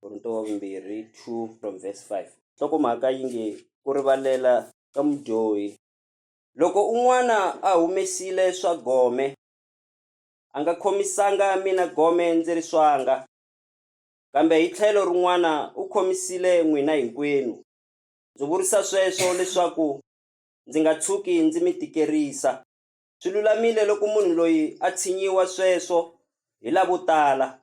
korinto wa vumbirhi 2 from verse 5 nhlokomhaka yi nge ku rivalela ka mudyohi loko un'wana a humesile swa gome a nga khomisanga mina gome ndzi ri swanga kambe hi tlhelo rin'wana u khomisile n'wina hinkwenu ndzi vurisa sweswo leswaku ndzi nga tshuki ndzi mi tikerisa Swi lulamile loko munhu loyi a tshinyiwa sweswo hi lavo tala.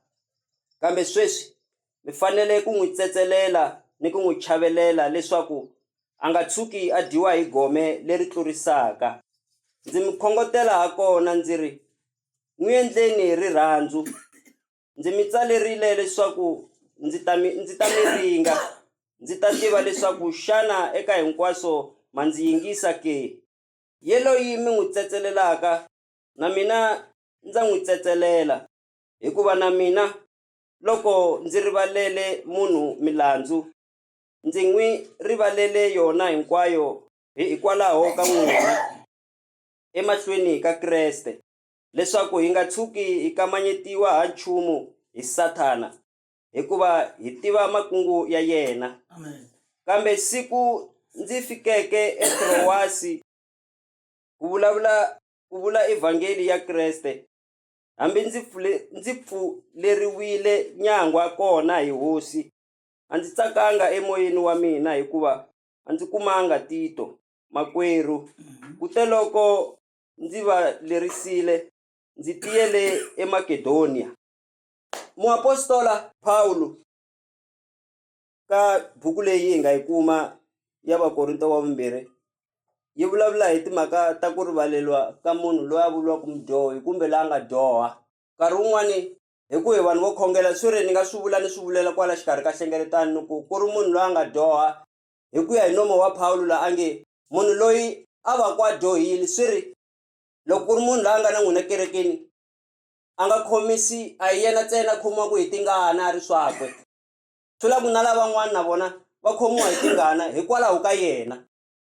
Kambe sweswi mi fanele ku n'wi tsetselela ni ku n'wi chavelela leswaku a nga tshuki a dyiwa hi gome leri tlurisaka. Ndzi mi khongotela hakona ndzi ri, N'wi endleni hi rirhandzu. Ndzi mi tsalerile leswaku ndzi ta mi ndzi ta mi ringa, ndzi ta tiva leswaku xana eka hinkwaswo ma ndzi yingisa ke. Yeloyi mi n'wi tsetselelaka, na mina ndza n'wi tsetselela, hikuva na mina loko ndzi rivalele munhu milandzu, ndzi n'wi rivalele yona hinkwayo hikwalaho ka n'wina, emahlweni ka Kreste, leswaku hi nga tshuki hi kamanyetiwa ha nchumu hi Sathana. hikuva hi tiva makungu ya yena kambe siku ndzi fikeke etrowasi ku vulavula ku vula evhangeli ya kreste hambi ndzi pfule ndzi pfuleriwile nyangwa kona hi hosi a ndzi tsakanga emoyeni wa mina hikuva a ndzi kumanga tito makwerhu mhm. kute loko ndzi va lerisile ndzi tiyele emakedoniya Muapostola Pawulo ka buku leyi hi nga yi kuma ya Vakorinto wa vumbirhi yi vulavula hi timhaka ta ku rivaleriwa ka munhu loyi a vuriwaka mudyohi kumbe la nga dyoha. Nkarhi wun'wani hi ku hi vanhu vo khongela swi ri ni nga swi vula ni swi vulela kwala xikarhi ka hlengeletano ni ku, ku ri munhu loyi a nga dyoha hi ku ya hi nomo wa Pawulo la a nge, munhu loyi a vaku a dyohile swi ri loko ku ri munhu la a nga na n'wina kerekeni a nga khomisi a hi yena ntsena a khomiwaka hi tingana a ri swakwe swi la ku na lavan'wana na vona va khomiwa hi tingana hikwalaho ka yena.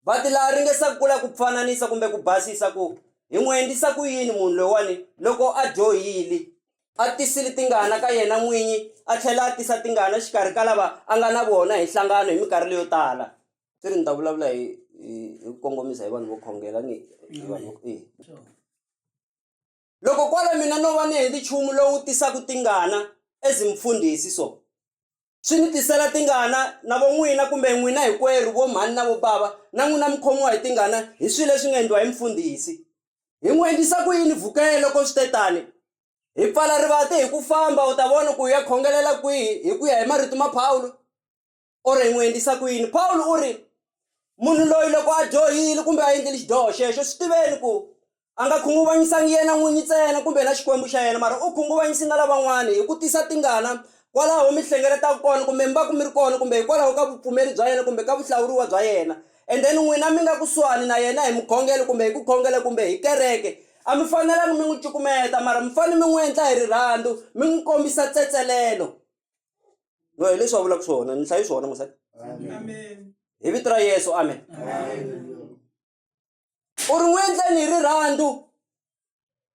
Va ti la ringesa ku la ku pfananisa kumbe ku basisa ku hi n'wi endlisa ku yini munhu loyiwani loko a dyohili, a tisile tingana ka yena n'winyi a tlhela a tisa tingana xikarhi ka lava a nga na vona hi nhlangano hi mikarhi leyo tala. Swi ri ni ta vulavula hi hi ku kongomisa hi vanhu vo khongela ni hi vanhu. Loko kwala mina no va ni hendi chumu lowu tisaku tingana, as mfundhisi, so swi ni tisela tingana, na vo n'wina, kumbe n'wina hikwerhu, vo mhani na vo bava, na n'wina mi khomiwa hi tingana hi swilo leswi nga endliwa hi mfundhisi. Hi n'wi endlisa ku yini vhukele loko swi te tani? Hi pfala rivati hi ku famba, u ta vona ku hi ya khongelela kwihi hi ku ya hi marito ma Pawulo. or hi n'wi endlisa ku yini pawulo u ri munhu loyi loko a dyohile kumbe a endlile xidyoho xexo swi tiveni ku a nga khunguvanyisangi yena n'winyi ntsena kumbe na xikwembu xa yena mara u khunguvanyisi nga lavan'wana hi ku tisa tingana kwalaho mi hlengeletaka kona kumbe mi va ku mi ri kona kumbe hikwalaho ka vupfumeri bya yena kumbe ka vuhlawuriwa bya yena and then n'wina mi nga kusuhani na yena hi mukhongelo kumbe hi ku khongela kumbe hi kereke a mi fanelangi mi n'wi cukumeta mara mi fanele mi n'wi endla hi rirhandzu mi n'wi kombisa tsetselelo no hi leswi va vulaka swona ni hlayi swona mosati hi vito ra yesu amen u ri n'wi endleni hi rirhandzu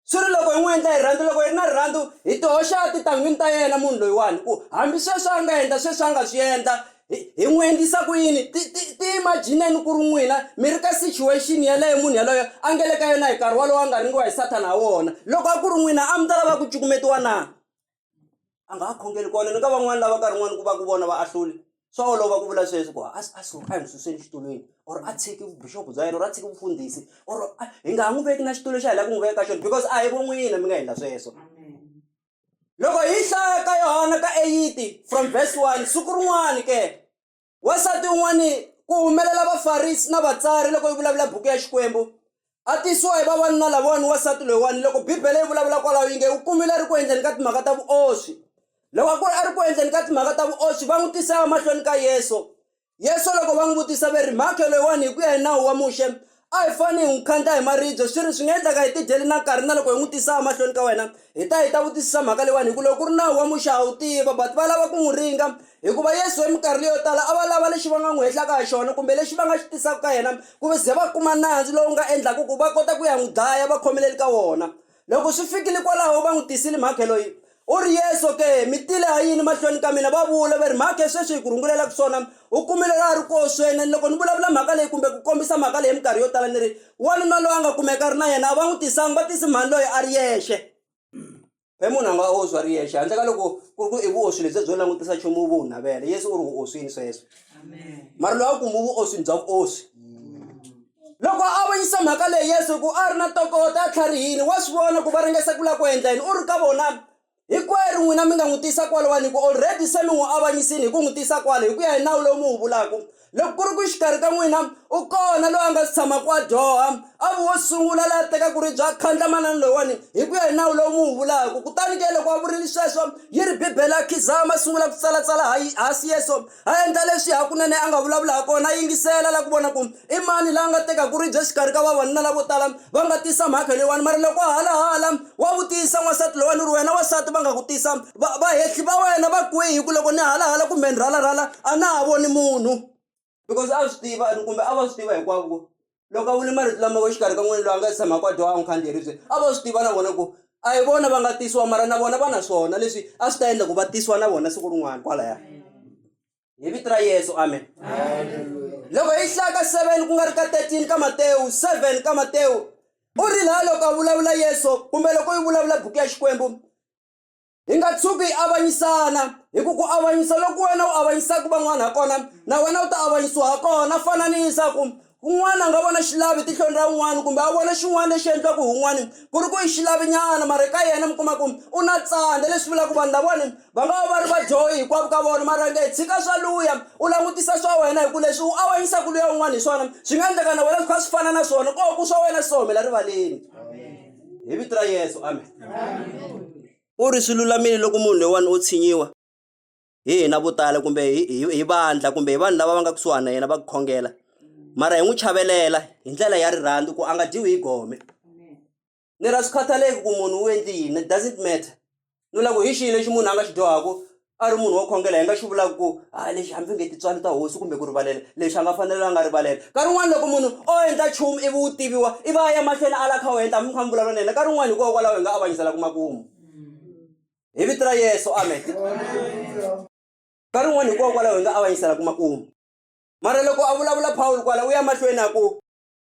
swi ri loko hi n'wi endla hi rirhandzu loko hi ri na rirhandzu hi tihoxa titangwini ta yena munhu loyiwani ku hambi sweswi a nga endla sweswi a nga swi endla hi n'wi endlisa ku yini ti ti ti imajineni ku ri n'wina mi ri ka situation yeleyo munhu yaloyo a nge le ka yona hi nkarhi wolowo a nga ringiwa hi sathana ha wona loko a ku ri n'wina a mi ta lava ku cukumetiwa na a nga ha khongeli kona ni ka van'wani lava nkarhi n'wani ku va ku vona va ahluli swa olova ku vula sweswi ku a a so a hi n'wi suseni xitulwini or a tshiki vubuxopo bya yena or a tshiki vufundhisi or hi nga ha n'wi veki na xitulu xa hi lava ku n'wi veka ka xona because a hi vo n'wina mi nga endla sweswo loko hi hlaya ka yohana ka eyiti from verse one siku rin'wani ke wansati un'wani ku humelela vafarisi na vatsari loko yi vulavula buku ya xikwembu a tisiwa hi vavanuna lavawani wansati loyiwani loko bibele yi vulavula kwalaho yi nge u kumile a ri ku endleni ka timhaka ta vuoswi loko a ku ri a ri ku endleni ka timhaka ta vuoswi va n'wi tisa emahlweni ka yesu yesu loko va n'wi vutisa ve ri mhakhe loyiwani hi ku ya hi nawu wa muxe A hi fanele hi n'wi khandla hi maribye swi ri swi nga endleka hi tidyele na nkarhi na loko hi n'wi tisa emahlweni ka wena hi ta hi ta vutisisa mhaka leyiwani hi ku loko ku ri nawu wa Muxe ha wu tiva but va lava ku n'wi ringa hikuva Yesu hi minkarhi leyo tala a va lava lexi va nga n'wi hehlaka hi xona kumbe lexi va nga xi tisaka ka yena ku va ze va kuma nandzu lowu nga endlaka ku va kota ku ya n'wi dlaya va khomelele ka wona. Loko swi fikile kwalaho va n'wi tisile, Mhakhe loyi, u ri Yesu ke? Mi tile ha yini mahlweni ka mina? Va vula va ri, Mhakhe, sweswi hi ku rungulelaka swona, u kumile la a ri koho swena. Ni loko ni vulavula mhaka leyi kumbe ku kombisa mhaka leyi minkarhi yo tala ni ri, Wanuna loyi a nga kumeka a ri na yena, a va n'wi tisanga, va tisi mhani loyi a ri yexe. Phela munhu a nga oswi a ri yexe, handle ka loko ku ri ku i vuoswi lebyiya byo langutisa nchumu u vo u navela. Yesu u ri u oswile sweswo, mara loyi a ku, Mu vuoswini bya vuoswi. Loko a avanyisa mhaka leyi Yesu hi ku a ri na ntokoto etlharihini, wa swi vona ku va ringesa ku lava ku endla yini. U ri ka vona, Hinkwerhu n'wina mi nga n'wi tisa kwala wa ni ku, Already se mi n'wi avanyisile hi ku n'wi tisa kwala, hi ku ya hi nawu lowu mi wu vulaka. Loko ku ri ku exikarhi ka n'wina u kona loyi a nga si tshamaka a dyoha, a vi wo sungula la a tekaka ribye a khandla manana loyiwani, hi ku ya hi nawu lowu mi wu vulaka. Kutani ke loko a vurile sweswo, yi ri Bibele a khidzama a sungula ku tsalatsala ha Yesu. A endla leswi hakunene a nga vulavula hakona, a yingisela, a lava ku vona ku i mani la a nga tekaka ribye exikarhi ka vavanuna lavo tala va nga tisa mhaka leyiwani. Mara loko hala hala wa vutisa n'wansati lowa ni ri, Wena wansati va nga ku tisa, va, vahehli va wena va kwihi? Hi ku loko ni hala hala kumbe ni rhala rhala a na ha voni munhu. Because a swi tiva, kumbe a va swi tiva hinkwavo ku loko a vule marito lama exikarhi ka n'wina loyi a nga tshamaka a dyoha a n'wi khandziya ribye a vo swi tiva na vona ku a hi vona va nga tisiwa mara na vona va na swona leswi a swi ta endla ku va tisiwa na vona siku rin'wana kwalaya hi vito ra yesu amen loko hi hlaya ka seven ku nga ri ka thirteen ka matewu seven ka matewu u ri laha loko a vulavula yesu kumbe loko yi vulavula buku ya xikwembu hi nga tshuki hi avanyisana hi ku ku avanyisa loko wena u avanyisaka van'wana ha kona na wena u ta avanyisiwa ha kona fananisa ku un'wana a nga vona xilavi tihlweni ra un'wana kumbe a vona xin'wana lexi endliwaka hi un'wana ku ri ku yi xilavi nyana mara ka yena mi kuma ku u na tsandza leswi vulaka vanhu lavawani va nga va va ri vadyohi hinkwavo ka vona mara nge tshika swa luya u langutisa swa wena hi ku leswi u avanyisaka luya un'wana hi swona swi nga endleka na wena swi kha swi fana na swona ko ku swa wena swi ta humela rivaleni. Hi vito ra Yesu. Amen. U ri swi lulamile loko munhu loyiwani o tshinyiwa hi hina vo tala kumbe hi hi- hi vandla kumbe hi vanhu lava va nga kusuhani na yena va ku khongela mara hi n'wi chavelela hi ndlela ya rirhandzu ku a nga dyiwi hi gome ni ra swi khathaleki ku munhu u endli yini it doesn't matter ni vula ku hi xihi lexi munhu a nga xi dyohaka a ri munhu wo khongela hi nga xi vulaka ku a lexi hambi nge tintswalo ta hosi kumbe ku rivalela lexi a nga fanela a nga rivalela nkarhi wun'wani loko munhu o endla nchumu ivi wu tiviwa i va a ya mahlweni a la kha wu endla hambi mi kha mi vulavula na yena nkarhi wun'wani hikokwalaho hi nga avanyiselaku makumu hi vito ra yesu amen nkarhi wun'wani hikokwalaho hi nga avanyiselaku makumu mara loko a vulavula pawulo kwala u ya mahlweni a ku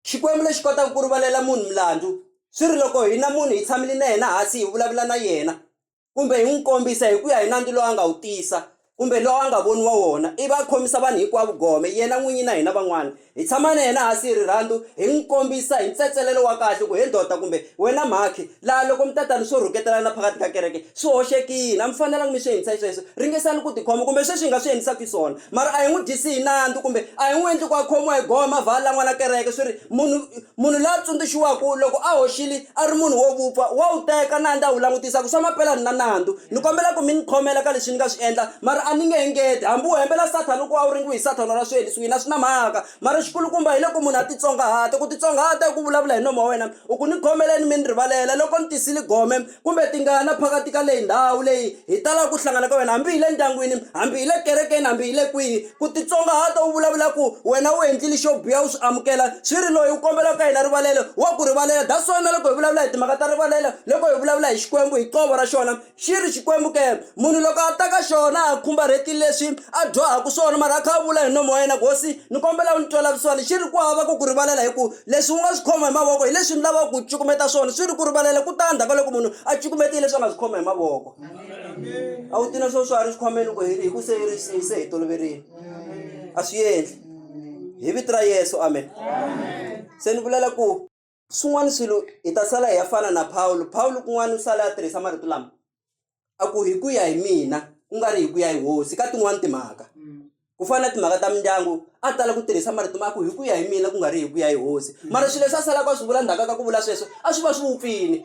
Xikwembu lexi kotaka ku rivalela munhu milandzu swi ri loko hina munhu hi tshamile na yena hansi hi vulavula na yena kumbe hi n'wi kombisa hi ku ya hi nandzu lowu a nga wu tisa kumbe lowu a nga voniwa wona ivi a khomisa vanhu hinkwavo gome yena n'winyi na hina van'wana hi tshama na yena hansi hi rirhandzu hi n'wi kombisa hi ntsetselelo wa kahle ku he ndoda kumbe wena mhakhi Laha loko mi ta ta ni swo rhuketelana phakathi ka kereke, swi hoxekile. A mi fanelanga mi swi endlisa xisweswo. Ringesani ku tikhoma, kumbe sweswi hi nga swi endlisaka xiswona. Mara a hi n'wi dyisi hi nandzu, kumbe a hi n'wi endli ku a khomiwa hi gome a vha a lan'wa na kereke. Swi ri, munhu, munhu la tsundzuxiwaka loko a hoxile, a ri munhu wo vupfa, wa wu teka nandzu a wu langutisa ku swa mampela ni na nandzu. Ni kombela ku mi ni khomela ka leswi ni nga swi endla, mara a ni nge engeti. Hambi u hembela Sathana ku a wu ringiwe hi Sathana or a swi endli swihi, a swi na mhaka. mara xikulukumba hi loko munhu a titsongahata ku titsongahata i ku vulavula hi nomu wa wena u ku ni khomeleni mi ni rivalela loko ni tisile gome kumbe tingana phakathi ka leyi ndhawu leyi hi talaka ku hlangana ka wena hambi hi le ndyangwini hambi hi le kerekeni hambi hi le kwihi ku titsongahata u vulavula ku wena u endlile xo biha u swi amukela swi ri loyi u kombela ka yena rivalelo wa ku rivalela that's why na loko hi vulavula hi timhaka ta rivalelo loko hi vulavula hi xikwembu hi qovo ra xona Xi ri, Xikwembu ke, munhu loko a ta ka xona a khumbarhetile leswi a dyohaka swona, mara a kha a vula hi nomo wa yena, Hosi, ni kombela u ni twela vusiwana, xi ri, Ku hava ku ku rivalela, hi ku leswi u nga swi khoma hi mavoko hi leswi ni lavaka ku cukumeta swona, swi ri, Ku rivalela ku ta endzhaku ka loko munhu a cukumetile leswi a nga swi khoma hi mavoko. A wu ti na swo swa ha ri xikhwameni loko hi ri hi ku se ri se se hi toloverile, a swi endli hi vito ra Yesu, amen. Se ni vulela ku. Swin'wana swilo hi ta sala hi ya fana na Pawulo. Pawulo kun'wana u sale a tirhisa marito lama, a ku, Hi ku ya hi mina, ku nga ri hi ku ya hi hosi, ka tin'wana timhaka. Ku fana na timhaka ta mindyangu, a tala ku tirhisa marito ma ku, Hi ku ya hi mina, ku nga ri hi ku ya hi hosi. Mara swilo leswi a salaka a swi vula ndzhaku ka ku vula sweswo, a swi va swi vupfile.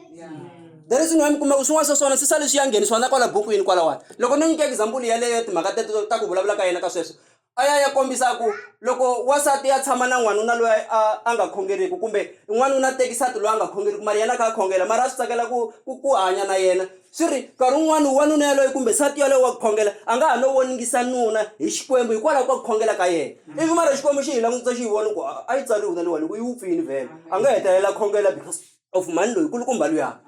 The reason why mi kuma ku swin'wana swa swona swi sale swi ya nghenisiwa na kwala bukwini kwalawani. Loko no nyika example yeleyo ya timhaka teto ta ku vulavula ka yena ka sweswo, a ya ya kombisa ku loko wansati ya tshama na n'wanuna loyi a a nga khongeriki kumbe n'wanuna teki nsati loyi a nga khongeriki mara yena a kha a khongela mara a swi tsakela ku ku ku hanya na yena swi ri nkarhi wun'wani wanuna yaloye kumbe nsati yaloye wa ku khongela a nga ha no voningisa nuna hi xikwembu hikwalaho ka ku khongela ka yena ivi mara xikwembu xi hi langutisa xi yi vona ku a yi tsariwi na leyiwani ku yi wupfini vhele a nga hetelela khongela because of mhani loyi kulukumba luyani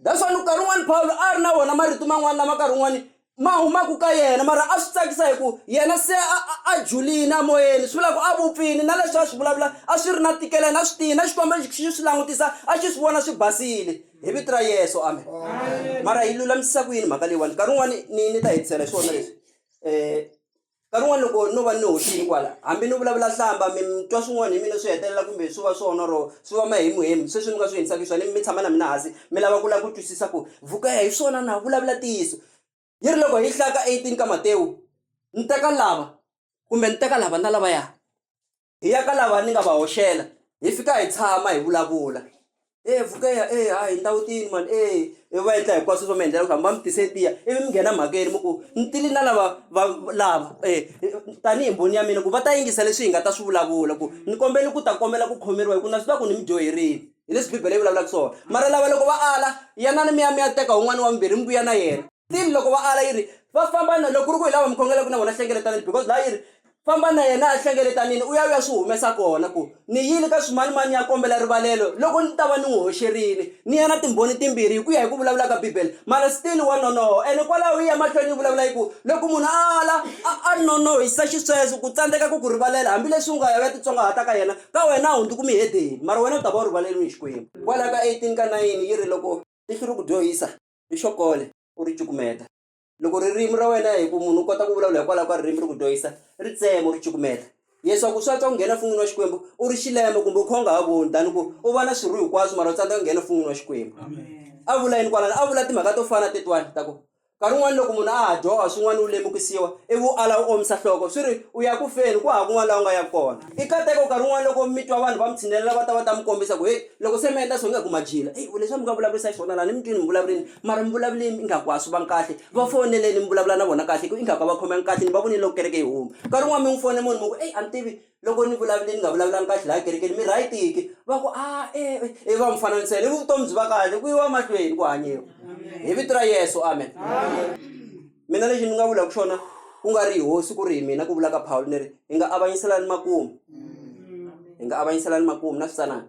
that's why nkarhi wun'wani pawulo a ri na wona marito man'wani lama nkarhi wun'wani ma humaka ka yena mara a swi tsakisa hi ku yena se a a a julini a moyeni swi vula ku a vupfini na leswi a swi vulavula a swi ri na ntikelo yena a swi tiyi na xikwembu lexi xi swi langutisa a xi swi vona swi basile hi vito ra yeso amen mara hi lulamisisa ku yini mhaka leyiwani nkarhi wun'wani ni ni ta hetisela hi swona leswi um nkarhi wun'wani loko no va ni hoxini kwala hambi ni vulavula hlamba mi mi twa swin'wani hi mina swi hetelela kumbe swi va swona or swi va mahemuhemu sweswi mi nga swi endlisa xiswona mi tshama na mina hansi mi lava ku lava ku twisisa ku vhuku ya hi swona na vulavula ntiyiso yi ri loko hi ka eighteen ka matewu ni teka lava kumbe ni teka lava na lavaya. hi ya ka lava ni nga va hoxela hi fika hi tshama hi vulavula e vukeya e ha hi ndhawu tini mani e i va endla hinkwaswo swo mi endlela ku hamba mi tise tiya ivi mi nghena mhakeni mi ku ni tili na lava va lava um tanihi mbhoni ya mina ku va ta yingisa leswi hi nga ta swi vulavula ku ni kombela ku ta kombela ku khomeriwa hi ku na swi tiva ku ni mi dyoherile hi leswi bibele yi vulavulaka swona mara lava loko va ala yanani mi ya mi ya teka wun'wani wa mimbirhi mi vuya na yena. Tini loko va ala yi ri, Va famba na, loko ku ri ku hi lava mi khongelaka na vona hlengeletanini, because laha yi ri, Famba na yena ehlengeletanini, u ya u ya swi humesa kona, ku, Ni yile ka swimanimani ni ya kombela rivalelo, loko ndzi ta va ni n'wi hoxerile. Ni ya na timbhoni timbirhi, hi ku ya hi ku vulavula ka Bibele. Mara still wa nonoha, ene kwalaho yi ya mahlweni yi vulavula yi ku, Loko munhu a ala, a a nonohisa xisweswo, ku tsandzeka ku ku rivalela, hambileswi u nga ya u ya titsongahata ka yena, ka wena a wu hundzuki muhedeni, mara wena u ta va u rivaleriwe hi Xikwembu. Kwalaho ka 18 ka 9 yi ri, Loko tihlo ri ku dyohisa, ni xo kole u ri cukumeta loko ririmi ra wena hi ku munhu u kota ku vulavula hikwalaho ka ririmi ri ku dyohisa ri tsema u ri cukumeta leswaku swa twa ku nghena fun'wini wa xikwembu u ri xilembo kumbe u kha u nga ha voni tani ku u vona swirho hinkwaswo mara u tsandzeka ku nghena fun'wini wa xikwembu a vula yini kwalano a vula timhaka to fana tetwani ta ku nkarhi un'wana loko munhu a ha dyoha swin'wana u lemukisiwa ivi u ala u omisa nhloko swi ri u ya ku feni ku hava kun'wana laha u nga ya kona I katekau nkarhi wun'wana loko mi twa vanhu va mi tshinelela va ta va ta mi kombisa ku heyi loko se mi endla so ingaku ma dyile eyi leswi a mi nga vulavurisa xiswona la ni mi twini mi vulavurile mara mi vulavulini ingaku a swi vangi kahle va foneleni mi vulavula na vona kahle hi ku ingaku a va khomekangi kahle ni va vonile loko kereke yi huma nkarhi wun'wana mi n'wi fone munhu mi ku eyi a ni tivi loko ni vulavule ni nga vulavulanga kahle laya kerekeni mi right ke va ku a e e va mi fananisela ivi vutomi byi va kahle ku yiwa mahlweni ku hanyiwa hi vito ra Yeso amen. Mina lexi ni nga vulaka xona ku nga ri hi hosi ku ri hi mina ku vulaka Pawulo ni ri hi nga avanyiselani makumu hi nga avanyiselani makumu na switsanana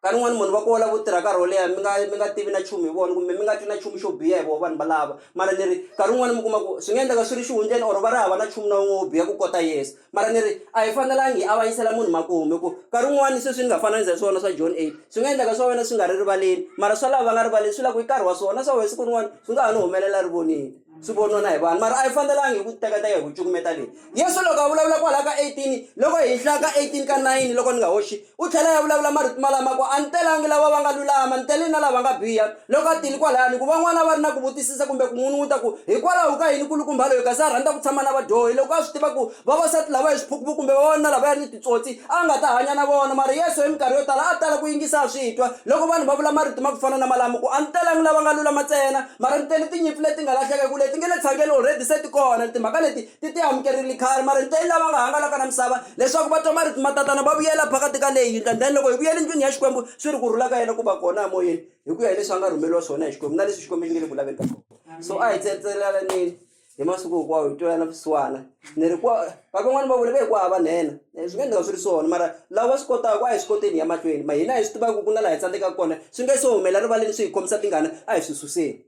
ka rin'wana munhu va kola vo tirha nkarhi wo leha mi nga mi nga tivi na nchumu hi vona kumbe mi nga twi na nchumu xo biha hi vona vanhu valava mara ni ri nkarhi wun'wani mi kuma ku swi nga endleka swi ri xihundleni or va ri hava na nchumu na wun'we wo biha ku kota yesu Mara ni ri a hi fanelangi hi avanyisela munhu makumu hi ku nkarhi wun'wani sweswi ni nga fananisa hi swona swa John 8 swi nga endleka swa wena swi nga ri rivaleni mara swa lava va nga rivaleni swi la ku i nkarhi wa swona na swa wena siku rin'wana swi nga ha ni humelela ri vonile swi voniwa na hi vanhu mara a hi fanelangi hi ku tekateka hi ku cukumeta leyi Yesu loko a vulavula kwalaho ka 18 loko hi hlaya ka 18 ka 9 loko ni nga hoxi U tlhela ya vulavula marito malama ku, A ni telangi lava va nga lulama, ni tele na lava nga biha. Loko a tile kwalano, ku va n'wana va ri na ku vutisisa kumbe ku n'unun'uta ku, Hikwalaho ka yini nkulukumba loyi kasi a rhandza ku tshama na vadyohi, loko a swi tiva ku vavasati lava i swiphukuphuku kumbe vavanuna lavaya ni titsotsi, a nga ta hanya na vona? Mara Yesu hi minkarhi yo tala a tala ku yingisa a swi twa loko vanhu va vula marito ma ku fana na malamo ku, A ni telangi lava nga lulama ntsena, mara ni tele tinyimpfu leti nga lahleka, hi ku leti nge le tshangeni already se ti kona, ni timhaka leti ti ti amukerile khale mara ni tele lava nga hangalaka na misava leswaku va twa marito matatana va vuyela phakathi ka leyi yindlu and then loko hi vuyela ndlwini ya Xikwembu swi ri ku rhula ka yena ku va kona emoyeni hi ku ya hi leswi a nga rhumeriwa swona hi Xikwembu na leswi Xikwembu xi nge le ku laveni ka swona so a hi tsetseleleni hi masiku hinkwawo hi twelana vusiwana ni ri kwa va van'wani va vule ve hi ku hava nhenha eh, swi nga endleka swi ri swona mara lava va swi kotaka a hi swi koteni ya mahlweni ma hina hi swi tivaka ku na laha hi tsandzekaka kona swi nge se humela rivaleni swi hi khomisa tingana a hi swi suseni